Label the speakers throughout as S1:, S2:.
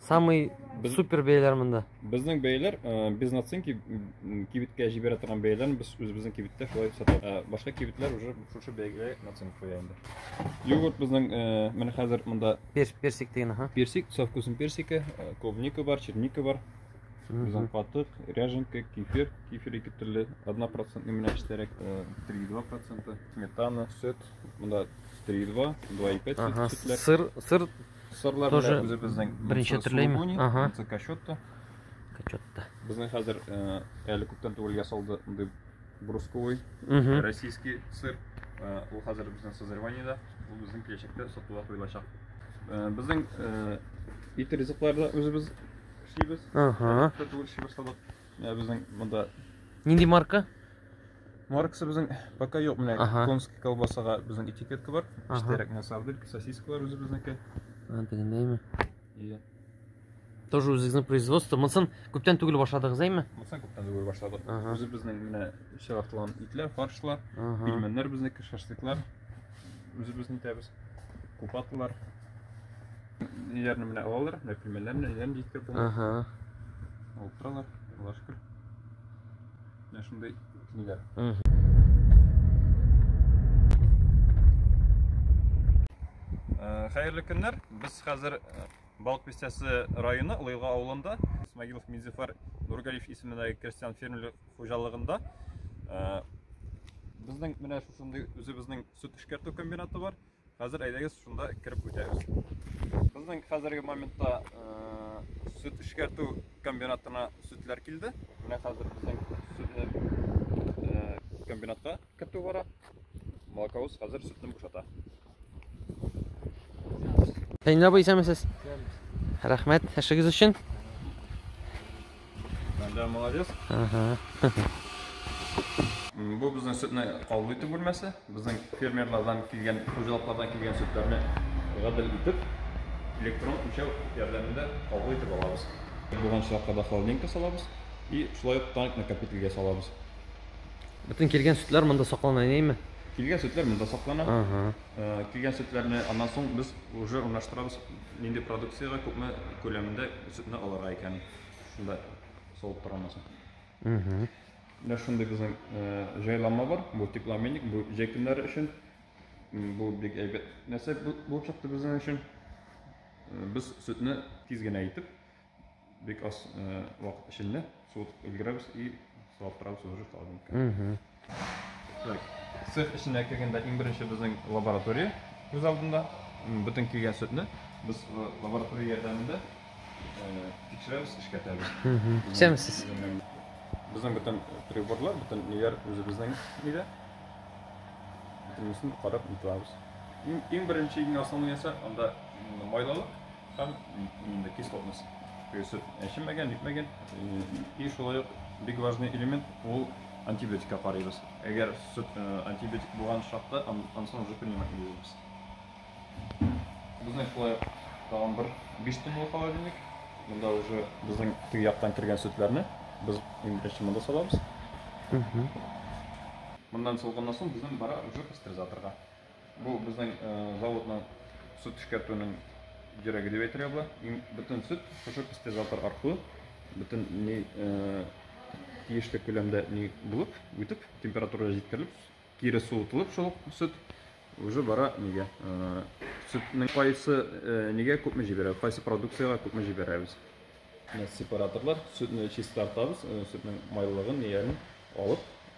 S1: Самый Без- супер бәяләр монда. Безнең бәяләр
S2: э, без наценки м, кибеткә җибәрә торган бәяләрне без үзебезнең кибеттә шулай сатабыз. Ә башка кибетләр уже шушы бәягә наценка куя инде. Йогурт безнең э, менә хәзер монда Пер, персик деген, ага.
S1: персик, со вкусом персика,
S2: э, клубника бар, черника бар, безнең Мгм. катык, ряженка, кефир, кефир ике төрле, 1 процентный менә эчтәрәк, э, 3,2 проценты, сметана, сөт, монда 3,2, 2,5 Ага. сөтләр. Сыр, сыр Сырлар Тоже белән үзебезнең
S1: беренче төрлеме?
S2: Сулугуни,
S1: Ага. Монсы Качотто.
S2: Качотта.
S1: Безнең хәзер
S2: э, әле күптән түгел ясалды андый брусковый Мгм. российский сыр. Э, Ул хәзер безнең созреваниедә, ул безнең киләчәктә сатуга куелачак. Э, Безнең э, ит ризыклары да үзебез эшлибез. Ага. Күптән түгел эшлибез хәзер. Э, Безнең монда Нинди марка?
S1: Марксы
S2: безнең пока юк менә Ага. конский колбасага безнең этикетка бар. Ага. Эчтәрәк менә сарделька, сосискалар үзебезнеке. Аны дегендәйме?
S1: И Тоже үзегезнең производство. Монсын күптән түгел башладыгыз, әйме? Монсын күптән түгел башладык.
S2: Ага. Үзебезнең менә чыгартылган итләр, фаршлар, Ага. пельменнәр безнеке, шашлыклар. Үзебез итәбез. Купатлар. Ниләрне менә алалар, менә пельменнәрне, ниләрне җиткереп булмый. Ага. Алып торалар, Аллашкыр. Менә шундый ниләр. Э, хәерле көннәр. Без хәзер э, Балык Пестясы районы Лыйга авылында Смагилов Минзифар Нургалиев исемендәге крестьян фермерлык хуҗалыгында. Э, безнең менә шушындый үзебезнең сөт эшкәртү комбинаты бар. Хәзер әйдәгез шунда кереп үтәбез. Безнең хәзерге моментта сөт эшкәртү комбинатына сөтләр килде. Менә хәзер безнең сөтләр комбинатта кертү бара. Молоковоз хәзер сөтне бушата.
S1: Фәнил абый, исәнмесез? Рәхмәт, эшегез өчен.
S2: Бәндә молодец. Бу безнең сөтне кабул итү бүлмәсе. Безнең фермерлардан килгән, хуҗалыклардан килгән сөтләрне гадел итеп, электрон үлчәү ярдәмендә кабул итеп алабыз. Булган очракта да холодильникка салабыз и шулай ук таник накопительгә салабыз. Бөтен
S1: килгән сөтләр монда саклана, әйеме? Килгән сөтләр монда
S2: саклана. Килгән сөтләрне аннан соң без уже урнаштырабыз Нинди продукциягә күпме күләмендә сөтне алырга икән, шунда салып тора алмасын. Менә шундый безнең җайланма бар, бу теплообменник, бу җәй көннәре өчен. Бу бик әйбәт нәрсә булып чыкты безнең өчен. Без сөтне тиз генә итеп бик аз э, вакыт эчендә суытып өлгерәбез и сылаптырабыз уже холодильникка так цех эченә кергәндә иң беренче безнең лаборатория күз алдында бөтен килгән сөтне без э, лаборатория ярдәмендә э, тикшерәбез эшкәртәбез сәмсез
S1: безнең
S2: бөтен приборлар бөтен ниләр үзебезнең нидә бөтенесен карап нитабыз иң, иң беренче иң основной нәрсә анда майлылык Һәм инде кислотность. Сөт әчемәгән, нитмәгән. И шулай ук бик важный элемент ул антибиотикка карыйбыз. Әгәр сөт антибиотик булган чакта, ансын уже принимать итәбез. Безнең шулай ук тагын бер 5 тонналы холодильник. Монда уже безнең теге яктан кергән сөтләрне без иң беренче монда салабыз. Моннан салганнан соң безнең бара уже пастеризаторга. Бу безнең заводның сөт эшкәртүнең йөрәге дип әйтергә була. Бөтен сөт шушы пастеризатор аркылы бөтен ни тиешле күләмдә ни булып, үтеп, температурага җиткерелеп, кире суытылып шул сөт уже бара нигә сөтнең кайсы нигә күпме җибәрә, кайсы продукциягә күпме җибәрәбез. Сепараторлар сөтне чистартабыз, сөтнең майлылыгын, нигәлен алып,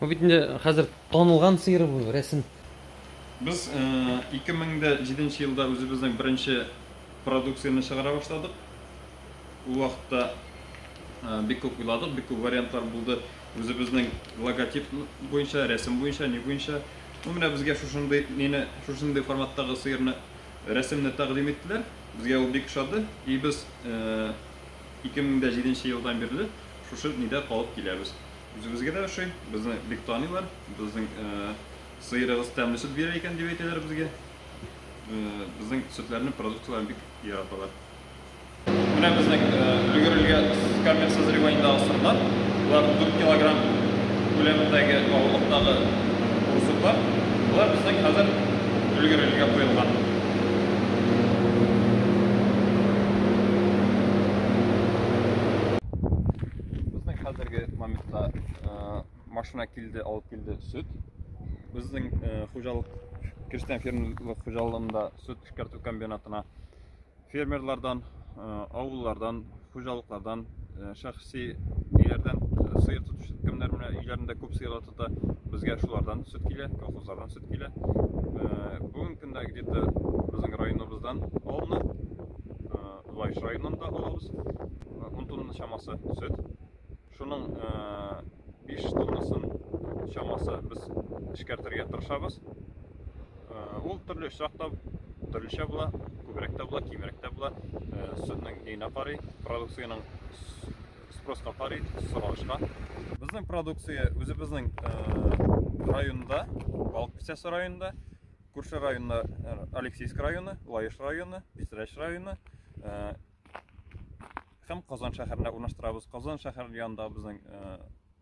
S1: Бу бит инде хәзер танылган сыер бу, рәсем. Без
S2: 2007 э, елда үзебезнең беренче продукцияне чыгара башладык. Ул вакытта э, бик күп уйладык, бик күп вариантлар булды. Үзебезнең логотип буенча, рәсем буенча, ни буенча. Ну, менә безгә шушындый нене, шушындый форматтагы сыерны рәсемне тәкъдим иттеләр. Безгә ул бик ошады. И без 2007 э, елдан бирле шушы нидә калып киләбез. Үзебезгә дә ошый, безне бик таныйлар, безнең сыерыгыз тәмле сөт бирә икән дип әйтәләр безгә. Безнең сөтләрне, продуктларын бик яраталар. Менә безнең өлгерелгән камер созреваниедагы сырлар, болар 4 килограмм күләмендәге авырлыктагы курсуклар, болар безнең хәзер өлгерелгә куелган. Безнең хәзерге моментта э, машина килде, алып килде сөт. Безнең э, хуҗалык Кирстен фермерлык хуҗалыгында сөт эшкәртү комбинатына фермерлардан, э, авыллардан, хуҗалыклардан, э, шәхси өйләрдән э, сыер тотучы кемнәр менә өйләрендә күп сыерлар тота, безгә шулардан сөт килә, колхозлардан сөт килә. Бүгенге көндә где-то безнең районыбыздан алынып, Лаеш районыннан да алабыз. 10 тонна чамасы сөт. Шуның 5 тоннасын чамасы без эшкәртергә тырышабыз. Ул төрле очракта төрлечә була, күбрәк тә була, кимрәк тә була. Сөтнең генә карый, продукциянең спроска карый, соралышка. Безнең продукция үзебезнең районда, Балык Песясы районында Күрше районына э, Алексейск районы, Лаеш районы, Пестрәч районы э, һәм Казан шәһәренә урнаштырабыз. Казан шәһәр янында безнең э,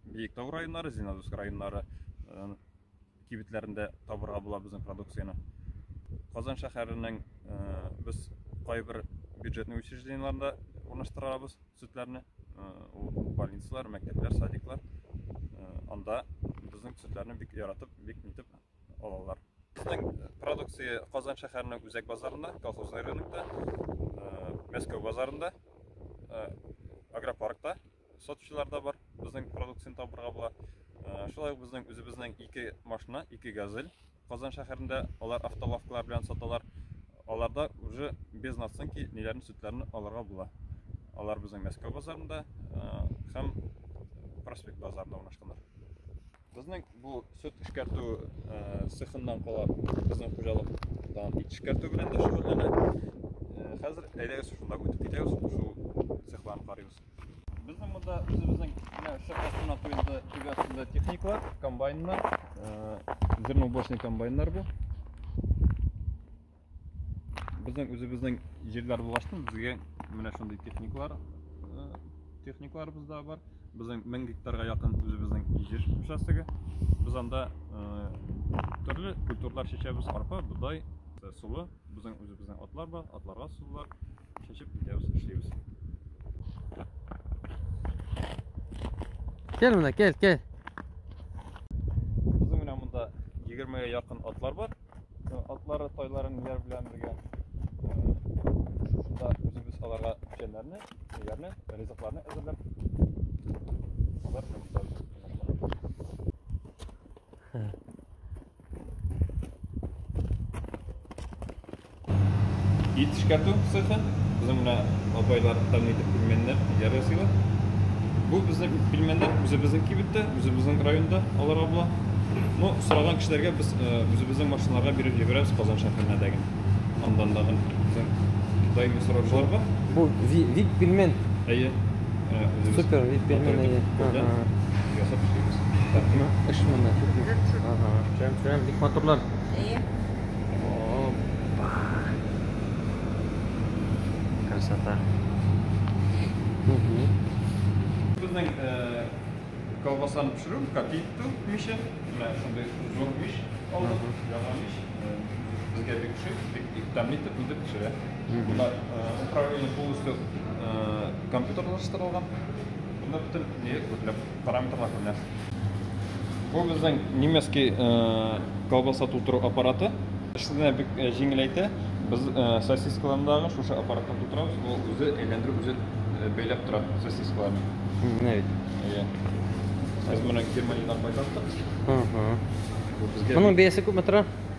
S2: Биектау районнары, Зеленодольск районнары кибетләрендә табырга була безнең продукцияне. Казан шәһәренең без кайбер бюджетный учреждениеларында урнаштырабыз сөтләрне. Ул больницалар, мәктәпләр, садиклар. Анда безнең сөтләрне бик яратып, бик нитеп алалар. Безнең продукция Казан шәһәренең үзәк базарында, Колхозный рынокта, Мәскәү базарында, Агропаркта сатучылар да бар. Безнең продукцияне табырга була. Шулай ук безнең үзебезнең ике машина, ике газель Казан шәһәрендә алар автолавкалар белән саталар. Аларда уже без наценки ниләрне сөтләрне алырга була. Алар безнең Мәскәү базарында һәм Проспект базарында урнашканнар. Безнең бу сөт эшкәртү цехыннан кала безнең хуҗалык дан ит эшкәртү белән дә шөгыльләнә. Хәзер әйдәгез шунда үтеп китәбез, шул цехларны карыйбыз. Безнең монда үзебезнең шахтасына куелды төбәсендә техникалар, комбайннар, зерноуборочный комбайннар бу. Безнең үзебезнең җирләр булгачтын безгә менә шундый техникалар техникаларыбыз да бар. Безнең 1000 гектарга якын үзебезнең җир участогы. Без анда төрле культуралар чәчәбез, арпа, бодай, сулы. Безнең үзебезнең атлар бар, атларга сулар чәчеп китәбез, эшлибез.
S1: Кел менә, кел, кел.
S2: Безнең менә монда 20 якын атлар бар. Атлары, тайлары ниләр белән бергә шушында үзебез аларга печәннәрне, ниләрне, ризыкларны әзерләп алар белән бетәбез. Ит эшкәртү цехы. Безнең менә апайлар тәмле итеп пельменнәр яр ясыйлар. Бу безнең пельменнәр үзебезнең кибеттә, үзебезнең районда алар абла. Ну, сораган кешеләргә без э, үзебезнең машиналарга биреп җибәрәбез Казан шәһәренә дәген. Андан да безнең даими сораучылар бар. Бу вип
S1: пельмен. Әйе.
S2: Э, Супер,
S1: вип пельмен әйе.
S2: Ясап эшлибез. Эш
S1: монда күпме? Ага. Прям прям бик матурлар. Әйе.
S3: Опа.
S2: Красота. Угу.
S1: Безнең э,
S2: колбасаны пешерү, копи итү мише, менә шундый зур миш алдык, яңа миш. Э, Безгә бик ошый, бик бик тәмле итеп үзе пешерә. Бунда э, управление полностью э, компьютерлаштырылган. Бунда бөтен нигә күпләп Параметрлар күренә. Бу безнең немецкий колбаса тутыру аппараты. Эшне бик җиңеләйтә. Без сосискаларны дагы шушы аппаратта тутырабыз. Ул үзе әйләндереп, үзе бәйләп тора сосискаларны. Менә бит.
S1: Иә.
S2: Без моны Германиядән кайтарттык.
S1: Моның бәясе күпме тора?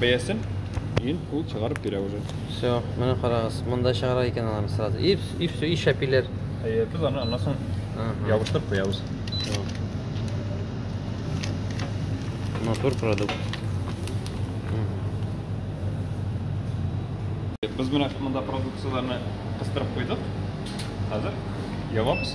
S2: Бәясен ин ул чыгарып бирә уже. Все, менә карагыз,
S1: монда чыгара икән алар сразу. И, и все, и шәпиләр. Әйе, без аны аннан
S2: соң ябыштырып куябыз.
S1: Матур продукт.
S2: Без менә монда продукцияләрне кыстырып куйдык. Хәзер ябабыз.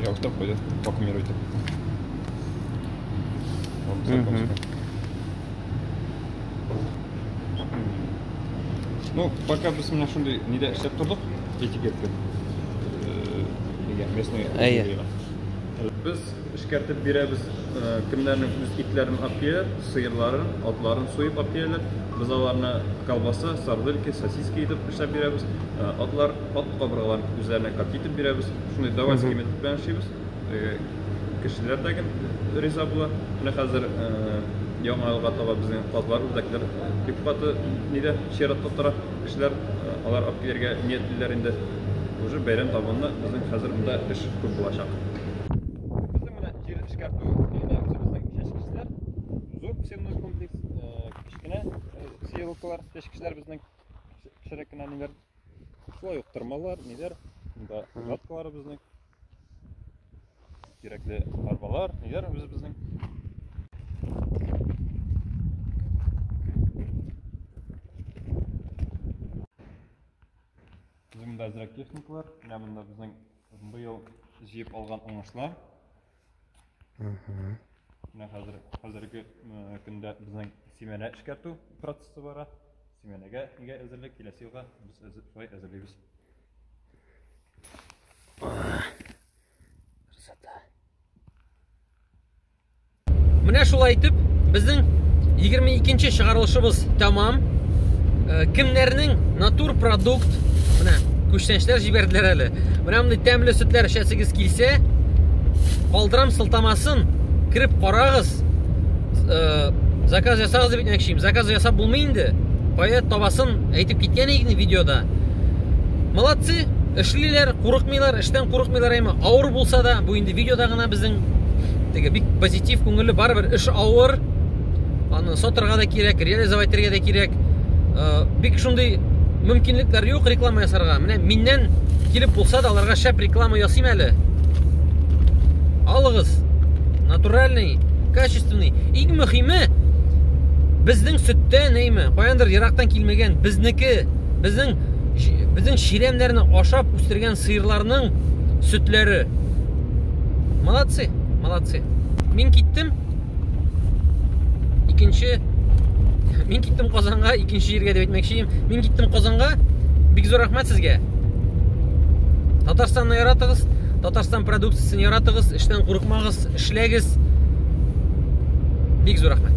S2: Я вот так пойдет, вакуумируйте. Вот так Мгм. вот. Ну, пока без меня шундай нидә эшләп тордык, этикетка. Э, нигә, местный Әйе. музейга. Без эшкәртеп бирәбез, э, кемнәрнең үз итләрен алып киләләр, сыерларын, атларын суеп алып киләләр. Без аларны колбаса, сардельки, сосиски итеп эшләп бирәбез. Э, Атлар, ат Кабыргаларын үзләренә кат итеп бирәбез. Шундый давай элемент белән эшлибез. Кешеләр дә гел риза була. Менә хәзер яңа елга таба безнең казлар, үрдәкләр бик каты нидә чиратта тора. Кешеләр алар алып килергә ниятлиләр инде. Уже бәйрәм табынына безнең хәзер монда эш күп булачак. Безнең менә җир эшкәртү сенный комплекс, кечкенә сеялкалар, чәчкечләр безнең кечерәк кенә ниләр Шулай ук тырмалар, ниләр, монда жаткалары безнең. Кирәкле арбалар, ниләр үзе безнең. Безнең монда әзрәк техникалар, менә монда безнең быел җыеп алган уңышлар. Менә хәзер хәзерге көндә безнең семена эшкәртү процессы бара. Семенәгә нигә әзерлек киләсе елга без шулай әзерлибез. Красота.
S1: Менә шулай итеп безнең 22 нче чыгарылышыбыз тәмам. Э, кемнәрнең натур продукт менә күчтәнчләр җибәрделәр әле. Менә мондый тәмле сөтләр эчәсегез килсә, калдырам сылтамасын, кереп карагыз. Э, заказ ясагыз дип әйтмәкчим. Заказ ясап булмый инде. Кая табасын әйтеп киткән идек видеода. Молодцы, эшлиләр, курыкмыйлар, эштән курыкмыйлар әйме. Авыр булса да, бу инде видеода гына безнең теге бик позитив күңелле барыбер эш авыр. аны сатырга да кирәк, реализовать итәргә дә кирәк. Э, бик шундый мөмкинлекләр юк реклама ясарга. Менә миннән килеп булса да аларга шәп реклама ясыйм әле. Алыгыз. Натуральный, качественный. Иң мөхиме безнең сөттә нәйме, каяндыр ерактан килмәгән безнеке, безнең безнең чирәмнәрне ашап үстергән сыерларның сөтләре. Молодцы, молодцы. Мин киттем. икенче мин киттем казанга икенче җиргә дип әйтмәкче мин киттем казанга бик зур рәхмәт сезгә татарстанны яратыгыз татарстан продукциясен яратыгыз эштән курыкмагыз эшләгез бик зур рәхмәт